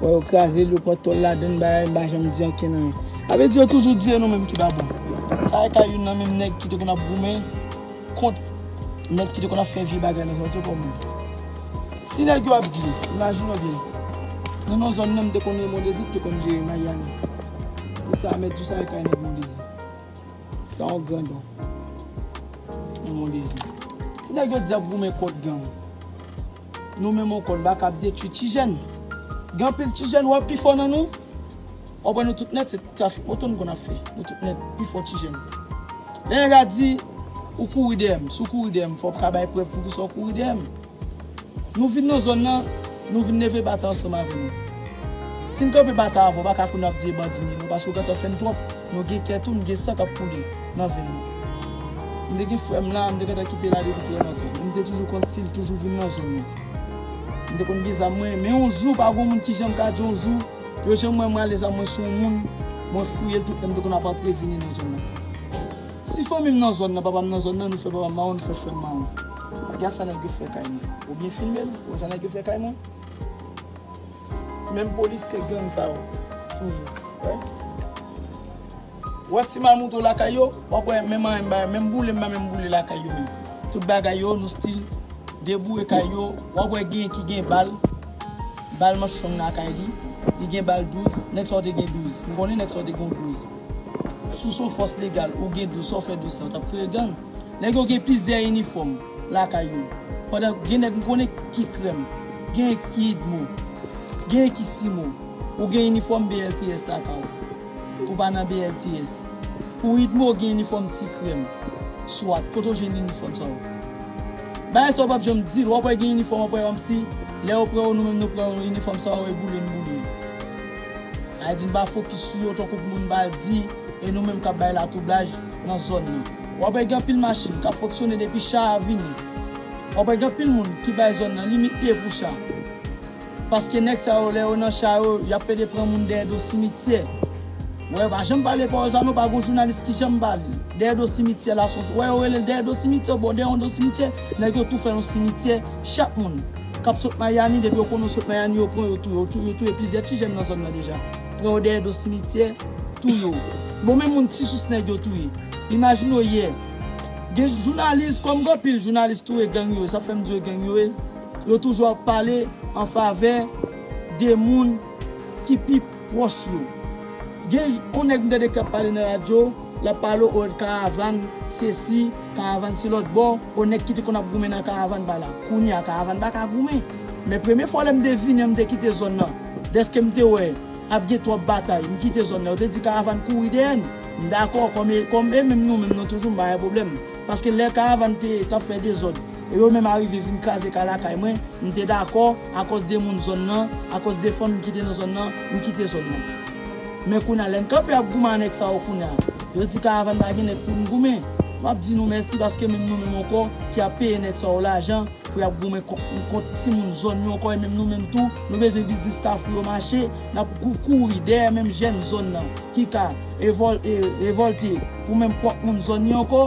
Wè yo krazel yo pran tòl ladann bagay m pa janm di anken anyen. A vle di yo toujou di e nou menm ki pa bon. Sa e ka youn nan menm nèg ki te konn ap goumen kont nèg ki te konn ap fè vye bagay nan zòn se kòm yo. Si nèg yo ap di, imajine w byen, nan non zòn nan m te konnen Mondezi ki te konn jere Miami. Pou sa mèt di sa e kay nèg Mondezi. San yon grandon nan Mondezi. Si nèg yo di y ap goumen kont gang. Nou menm on konn baka ap detwi ti jèn gen anpil ti jèn wap pifò nan nou wap wè nou tout nèt se trafik moto nou konn ap fè nou tout nèt pifò ti jèn lè nèg la di ou kouri dèyèm sou kouri dèyèm fòw ka bay prèv poukisa ou kouri dèyèm nou vin nan zòn nan nou vin leve bata ansanm avè nou sin kanpe bata avèw baka koun ap di e bandi ni nou paske ou gentan fèn tròp nou gen kè tou nou gen san kap koule. Nan vin moute. M te gen frè m la, m te gentan kite la depi trè lontan. Men m te toujou konn stil toujou vin nan zòn nan. M te konn gen zam mwen, men yon jou pa gon moun ki janm ka di yon jou, yo janm wè m rale zam mwen sou yon moun, mwen fouye l tout lè m te konn ap antre vini nan zòn nan. Si fanmi m nan zòn nan, papa m nan zòn nan, nou fè papa m mawon, nou fè frè m mawon. Gad sa nèg yo fè kay mwen. Ou byen filme l, wè sa nèg yo fè kay mwen. Menm polisye gang sa yo toujou. Wè. Wè si mal moute w lakay yo, wap wè menm anyen m bay, menm boule m bay menm boule lakay yo menm. Tout bagay yo nou stil deboure kay yo, wap wè genyen ki gen bal, bal manch long lakay li, li gen bal 12, nèg sa w te gen 12, m konnen nèg sa w te gen w 12. Si w son fòs legal ou gen 12 sa w fè 12 sa w tap kreye gang? Nèg yo gen plizyè inifòm lakay yo, pandan gen nèg m konnen ki krèm, genyen ki idmo, genyen ki simo, ou gen inifòm BLTS lakay w. Ou pa nan BLTS. Pou idmo ou gen inifòm ti krèm. Swat. Kote ou jwenn inifòm sa yo. Bagay sa yo pap janm dil. Wap wè gen inifòm wap wè kòmsi lè yo pran yo nou menm nou pran yo inifòm sa yo e boule n boule yo. Sa di n pa fokis sou yo tankou moun ba di e nou menm kap bay latwoublaj nan zòn nan. Wap wè gen anpil machin kap fonksyone depi cha a vini. Wap wè gen anpil moun ki bay zòn nan limit e pou cha. Paske nèg sa yo lè yo nan cha yo yap pede pran moun dèyè do simityè wè yo pa janm pale pawòl sa non pa gon jounalis ki janm pale dèyè do simityè la son wè yo relel dèyè do simityè bon dèyè yon do simityè nèg yo tou fè yon simityè chak moun kap sot mayami depi yo konnen yo sot mayami yo pran yo touye yo touye plizyè ti jèn nan zòn nan deja pran yo dèyè do simityè touye yo bon men moun ti sous nèg yo touye imajine w yè gen jounalis kòm gen anpil jounalis tou e gang yo ye sa fèm di yo gang yo ye. Yo toujou ap pale an favè de moun ki pi pwòch yo. Gen yon nèg m tande k ap pale nan radyo, l ap pale o karavàn sesi, karavàn se lòtbò, o nèg ki te konn ap goumen nan karavàn ba la. Kounye a karavàn pa ka goumen. Men premye fwa lè m te vini an m te kite zòn nan, dèske m te wè ap gen twòp batay, m kite zòn nan. Yo te di karavàn kouri dèyè n. M dakò, kòm e menm nou menm nou toujou m pa gen pwoblèm. Paske lè Karavann te tap fè dezòd e yo menm arive vin kraze kay lakay mwen, m te dakò akòz de moun zòn nan, akòz de fanmi ki te nan zòn nan, m kite zòn nan. Men kounya lè n kanpe ap goumen a nèg sa yo kounya, yo di Karavann pa gen nèg pou n goumen. M ap di nou mèsi paske menm nou menm ankò ki ap peye nèg sa yo lajan pou y ap goumen kont nou, kont timoun zòn yo ankò e menm nou menm tou nou bezwen biznis Kafou yo mache, n ap kouri dèyè menm jèn zòn nan ki ka revòlte pou menm pwòp moun zòn yo ankò.